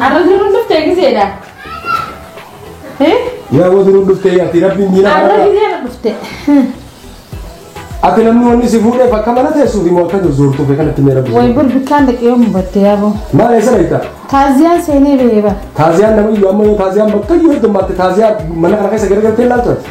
Arra jiruun dhuftee giseedha. Yaa boo duruu dhuftee yaatti rabbiin diina Arra kanarraa. giseedha dhufte. Ati namni wanni si fuudheef akka mana teessuuf immoo akka zorzoortuuf kanatti mee rabbi. Way bir bikkaan dhaqee yoo mubatte yaaboo. Maal eessa dhaqxa? Taaziyaan seenee ba'ee bara. Taaziyaan namni iyyuu amma yoo taaziyaan bakka iyyuu heddummaatte taaziyaa mana kana keessa gargartee ilaaltu ati.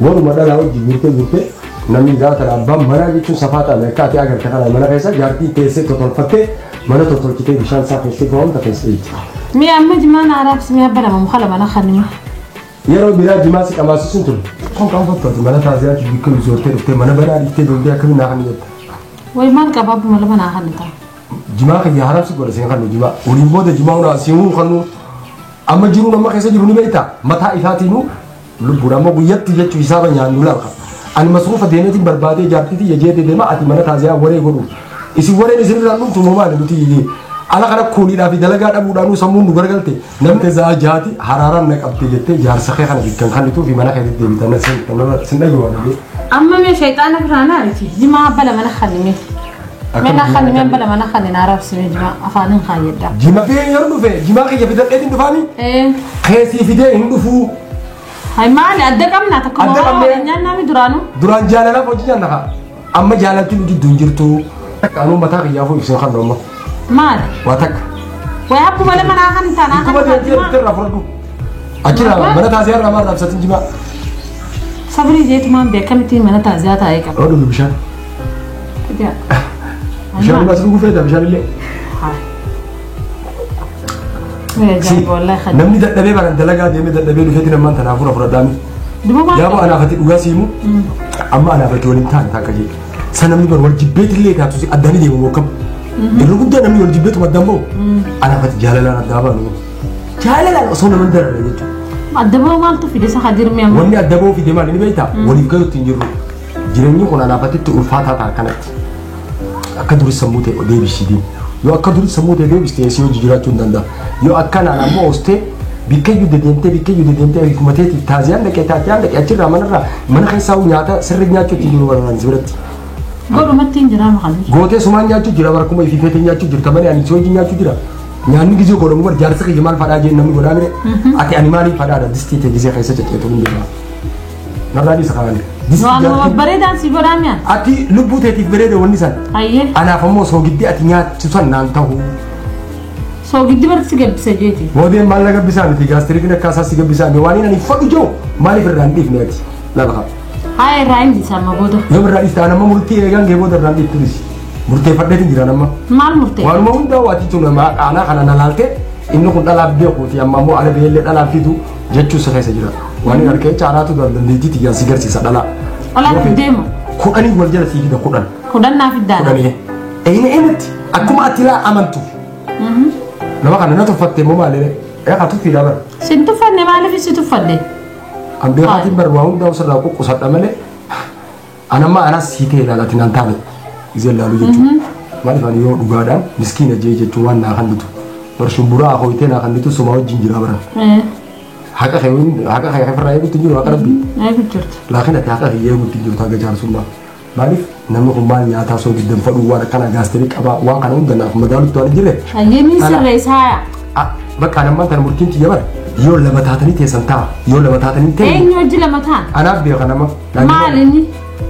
Waruma dhalaa wajjin guurtee guurtee namni gaafa kana abbaan manaa jechuun safaa ta'ame akka ati agarte kana mana keessa jaartii teessee totolfattee mana totolchitee bishaan isaa keessee fo'amta keessa dhiitti. Mee amma jimaa na araabsi mee abba nama mukala mana kanima. Yeroo biraa jimaa si qamaasisuun ture. Kun kan fakkaatu mana taaziyaatti bikka bisoortee dhuftee mana banaa dhiiftee deemtee akkamiin naa kan jette. Way maal qaba abba malaba naa kan ta'a. Jimaa kan yaa haraamsi godha seen kan jimaa. Waliin booda jimaa hunaa siinuu kan amma jiruu nama keessa jiru ni beektaa mataa isaatiinuu Lubbuun ammoo guyyatti jechu hisaaba nyaannu laka. Ani masruufa deemeetiin barbaadee jaartii tiyya jeete deema ati mana taaziyaa waree godhu. Isin wareen isin irraa dhumtu moo maali nuti iyyee. Ala kana kuuniidhaa fi dalagaa dhabuudhaanuu sammuun nu garagalte namni zaa jaati haraaraan na qabte jettee jaarsa kee kana bikkan kannituu fi mana keetti deebitan sin dhageewwan. Amma mee shayxaana biraa naariti jimaa bala mana kannimee. Mena kan men bala mana kan na arab sini jima afanin kan yadda. Jima fi hin yeroo dhufe jima kiyya fidadhee hin dhufaani Eh, keessii fidee hin dhufuu hai mali adda kamna ta kuma Adda wa kamne. nyan nami duranu. duraan jaalalaaf hojii nyaanna kaa amma jaalaltiin jidduu hin jirtu takka anuu mataa kiyyaafuu ibsee kan amma Mali. waa takka Wai aku bala mana kan ta na kuma kan deemtee jima. dhufte irraa fudhadhu achirraa mana taasee irraa maal raabsatiin jimaa Sabri je tuman be kamiti mana ta za ta aika. yoo dhugu bishaan Ija. Bishaan dhugaas dhuguu feeta bishaan illee. Si namni dadhabee bara dalagaa deemee dadhabee dhufeetti namaan tanaa fura fudhadhaa miti. Yaaba anaaf ati dhugaa siimu amma anaaf ati waliin taa'an taakka jee. Sa namni bara wal jibbeetti illee taatu si addaan deemu bokkam. Yeroo guddaa namni wal jibbeetu addaan bahu anaaf ati jaalalaan addaa baanu. Jaalalaan osoo nama hin dararre jechuudha. Addaboo maaltu fide isa hadirmee amma. Wanni addaboo fide maal inni beektaa? Waliif galuutti hin jirru. Jireenyi kun anaaf atitti ulfaataa ta'a kanatti. Akka durii sammuu ta'e deebisii deemu. Yoo akka durii sammuu ta'e deebiste eessee hojii jiraachuu hin danda'a. Yoo akka naan ammoo ostee bikkayyuu dedeemtee bikkayyuu dedeemtee hiikuma teetiif taaziyaan dhaqee taaziyaan dhaqee achirraa manarraa mana keessaa nyaata sirri nyaachuu ittiin jiru barbaadaan si biratti. Godhumatti hin jiraama kan biyya. Gootee sumaan nyaachuu jira bara kuma ifi feetee nyaachuu jirta malee ani si hojii nyaachuu jira. Nyaanni gizee godhamu bar jaarsa kiyya maal fadhaa jeen namni godhaa mire. Ati ani maaliif fadhaadha distii ta'e gizee keessa cacceetu hin jiru. Narraa dhiisa kanaan. Waanuma babbareedaan si godhaa mi'a. Ati lubbuu teetiif bareeda wanni san. Ayyee. Anaaf ammoo soogiddi ati nyaattu san naan ta'u. Soogiddi barti si gabbisa jeeti. Moodeen maal na gabbisaa miti gaastiriikiin akka asaa si gabbisaa miti waan ani fadhu jiru maaliif irraa hin dhiifne ati. Lafa haa. Haa irraa hin dhiisa amma booda. Yoo irraa dhiifte an amma murtii eegaan gee booda irraa hin dhiiftu dhisi. Murteeffadheetiin jiraan amma. Maal murtee? Waanuma hundaa waati tun aanaa kana na laalte inni kun dhalaaf beekuuti amma ammoo ala beellee dhalaan fidu jechuu si keessa jira. Waan hin argeen caalaatu dura dandeettii tiyyaan si garsiisa dhalaa. Olaa Yookiin deemu. Kudhanii wal jala sii fida kudhan. Kudhan naaf iddaana. Kudhanii. Eeyina eenyutti akkuma ati ilaa amantu. Nama kana na tuffatte immoo maaliire? Eeqa tuffiidhaa bara. Si hin tuffanne maaliif si tuffadde? An beekaatiin bara waa hundaa osirraa quqqusadha malee An amma anas sii ta'e laala ati naan taane isin laalu jechuudha. Maaliif ani yoo dhugaadhaan miskiina jee jechuun waan naa kannitu. Bar shumburaa akooyitee naa kannitu somaa wajjin jiraa baran. Haqa kee wajjin- haqa kee ofirraa eeguutti hin jiru haqa rabbii. Eegu jirtu. Laakiin ati haqa kee eeguutti hin jirtu haga jaarsummaa. Maaliif namni kun maal nyaataa soo diddan fadhuu waan akkana gaasterii qabaa waan kana hunda naaf madaalutti waan hin jirre. Ayyee ni Ala. sirreessaaya. Ah, Bakka anammaan tana murtiin tiyya bara yoo lama taatanii teessan ta'a yoo lama taatanii ta'e Eenyu hojii lama ta'a? anaaf beeka nama Maal inni?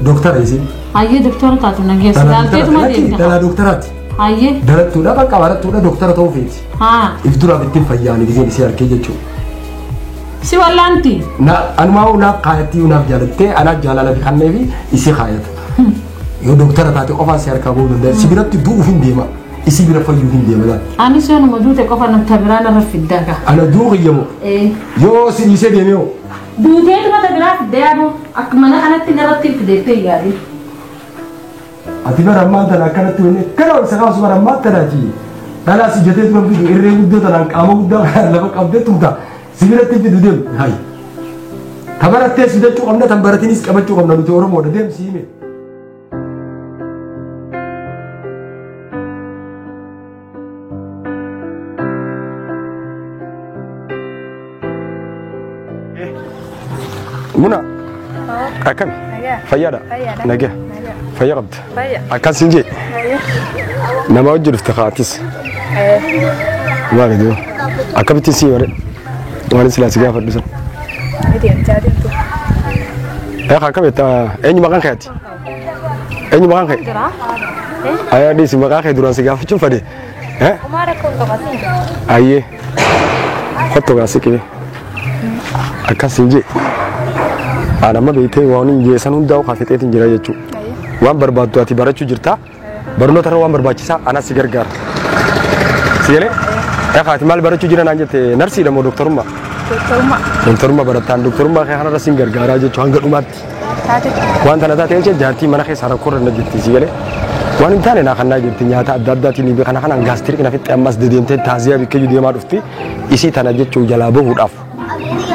Dooktara isin. Hayyee doktora taatu na geessu. Dhala Laalteetuma dooktaraati. deemta. Dhala dooktaraati. Hayyee. Darattuudha bakka barattuudha dooktara ta'uu feeti. Haa. If duraaf ittiin fayyaan giseen isii harkee jechuudha. Si wallaanti. Na anumaa hoo naaf kaayattii yoo naaf jaalattee anaaf jaalala fi kannee fi isii kaayata. Yoo dooktara taate qofaa si harkaa bahuu danda'a. Si biratti du'uuf hin deema. Isii bira fayyuuf hin deema laata. Anis yoonuma duute qofa natti biraan irra fiddaa gaa. Ana du'uu qiyyamoo. Ee. Yoo si dhiisee deemee hoo. Duuteetuma ta biraa fiddee aboo. Akka mana kanatti narratti itti deettee hin yaadin. Ati bara ammaan tana akkanatti wanni akkana wal isa kaasu bara ammaan tana ati dhalaa si jetee turan fidu irree guddoo tanaan qaama guddaa kanaan lafa qabdee tumta si biratti fidu deemu hayi. Ta barattee sudachuu qabna tan baratinis qabachuu qabna nuti Oromoodha deemsi hime. Muna akkami fayyaadha nagaya fayya qabda akkas hin jee nama hojii dhufte kaatis maali doo akkamittiin sii bare waan silaa si gaafadhu san. Eekaa akkamitti eenyu maqaan keeti? Eenyu maqaan kee? Jira. Ayaa dhiisi maqaa kee duraan si gaafachuun fade. Eh? Umaa rakkoo hin qabatin. Ayyee. Kottu gaa siqee. Akkas hin jee. Haadha amma beektee waan hin jeessan hundaa'u kaafixeetiin jira jechuudha. Waan barbaaddu ati barachuu jirta. Barnoota irra waan barbaachisaa anas si gargaara. Si galee? Dhaqaati maal barachuu jira naan jette narsiidha moo doktorummaa? Doktorummaa. Doktorummaa barattaan doktorummaa kee kanarra sin gargaaraa jechuu hanga dhumaatti. Taate. Waan tana taatee jecha jaartii mana keessaa rakkoo irra na jirti si galee? Waan hin taane naa kannaa jirti nyaata adda addaatiin ibi kana kanaan gaastirik na fixxee ammas dedeemtee taaziyaa bikkeeyyuu deemaa dhufti isii tana jechuu jalaa bahuudhaaf.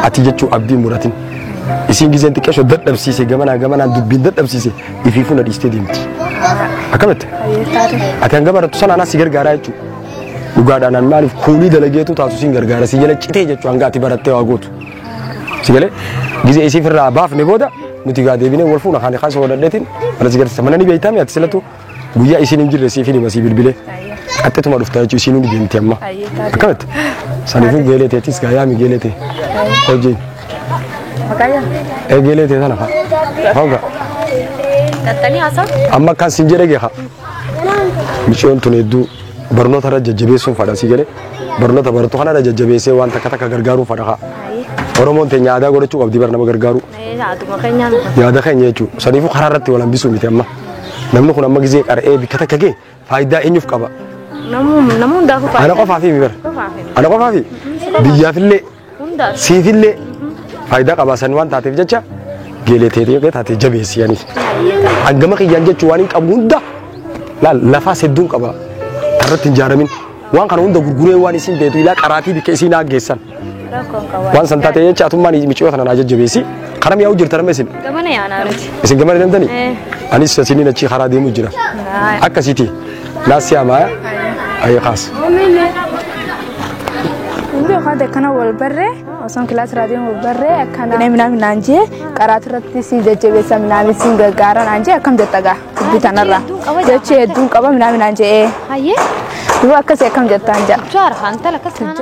Ati jechuun abdii muratin. Isiin gizeen xiqqeesho dadhabsiise gamanaa gamanaan dubbiin dadhabsiise ifii fuula dhiistee deemti. Akkamitti? Ati hanga barattu sana anaa si gargaaraa jechuudha. Dhugaadhaan an maaliif kuulii dalageetu taatu siin gargaara si jala citee jechuudha hanga ati barattee waa gootu. Si galee gizee isiif irraa baafne booda nuti gaa deebinee wal fuuna kaani kaasa wadhadheetiin mana si garsiisa mana ni beektaa mi ati silatu Guyyaa isiin hin jirre siifin hima sii bilbilee. Ayyee. Qaxxituma dhufta jechuun isiinuu ni deemti amma. Ayyee taate. Akkamatti? Saniifuu geelee teetis gaa yaami geelee tee. Hojii. Maqaayyaa. Ee geelee tee sana fa'a. Hooga. Qaxxanii haasaa. Amma kan siin jedhe geeha. Micoon tun hedduu barnoota irra jajjabeessuun fadha sii galee. Barnoota barattu kana irra jajjabeessee waan takka takka gargaaruun fadha haa. Ayyee. Oromoon teenya aadaa godhachuu qabdi bara nama gargaaru. Ayyee. Haatuma keenyaan. Yaada keenya jechuudha. Saniifuu karaa irratti wal hambisuu miti amma. Namni kun amma gizee qara'ee bikka takka gee faayidaa eenyuuf qaba? Namni hundaafuu Ana faayidaa. qofaaf himi bara. Qofaaf himi. Ana qofaaf biyyaafillee Hundaaf. siifillee faayidaa qaba san waan taateef jecha geelee teetii yookiin taatee jabeessi yanis. Hangama kiyyaan jechuu waan hin qabu hunda laal lafaas hedduun qaba. Irratti hin jaaramin. Waan kana hunda gurguree waan isiin beetu ilaa qaraatii bikka isiin haaggeessan. Rakkoon qabu. Waan san taatee jecha atummaan miciyoo tana naa jajjabeessi. Kana mi'aawu jirta nama isin. Gamana yaanaa nuti. Isin gamana deemtanii? Eh. Anis sasiniin achi karaa deemu jira. Haa. Akkasiiti. Naas siyaamaa. Ayee kaas. Hundi yookaan akkana wal barree osoo kilaas raadiyoon wal barree akkana. Minaa minaa minaan jee qaraati irratti si jajjabeessa minaa siin gargaara naan jee akkam jetta gaa. dubbii tanarraa hedduun qaba jedha. jechi hedduun qaba minaa minaan je'ee Hayyee. duba akkasi akkam jettaan ja'a. Jaara haa intala akkas taana.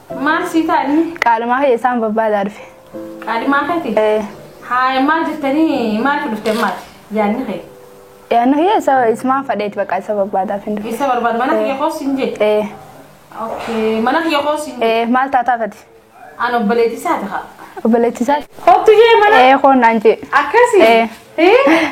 Maal sii taani? Qaalimaa kiyya isaan barbaadaa dhufe. Qaalimaa keeti? Ee. Haaya maal jettanii maaliif dhufte maati? Yaanni kee. Yaanni kiyya isa isumaan fadheeti baqa isa barbaadaaf hin dhufe. Isa barbaada mana kiyya koos hin jee. Ee. Okay. Mana kiyya koos hin jee. Ee maal taataa fati? An obboleetti isaati haa. Obboleetti isaati. Kottu jee mana. Ee koon naan jee. Akkasi. Ee. Ee.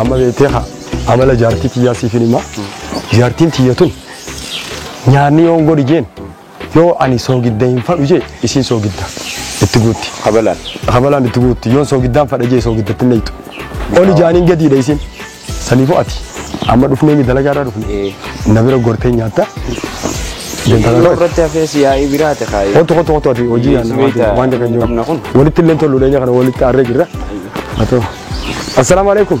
amma beektee haa amala jaartii tiyyaa siif hin himaa jaartiin tiyya tun nyaanni yoon godhi jeen Yoo ani soogidda hin fadhu jee isiin soogidda itti guutti. Kabalaan. Kabalaan itti guutti. Yoon soogiddaan fadha jee soogidda itti nayxu. Oli jaaniin gadiidha isiin. Saniifuu ati amma dhufnee mi dalagaa irraa dhufne. Na bira gortee nyaatta. Deemtala Yeroo irratti hafee si yaa'ii biraate kaayee. Kotu kotu kotu ati hojii Yes, yaadna wait, waan jedhan jiru. qabna kun. Walitti illee toluu dheenya kana walitti aarree jirra. Haa ta'u. Assalaamu alaikum.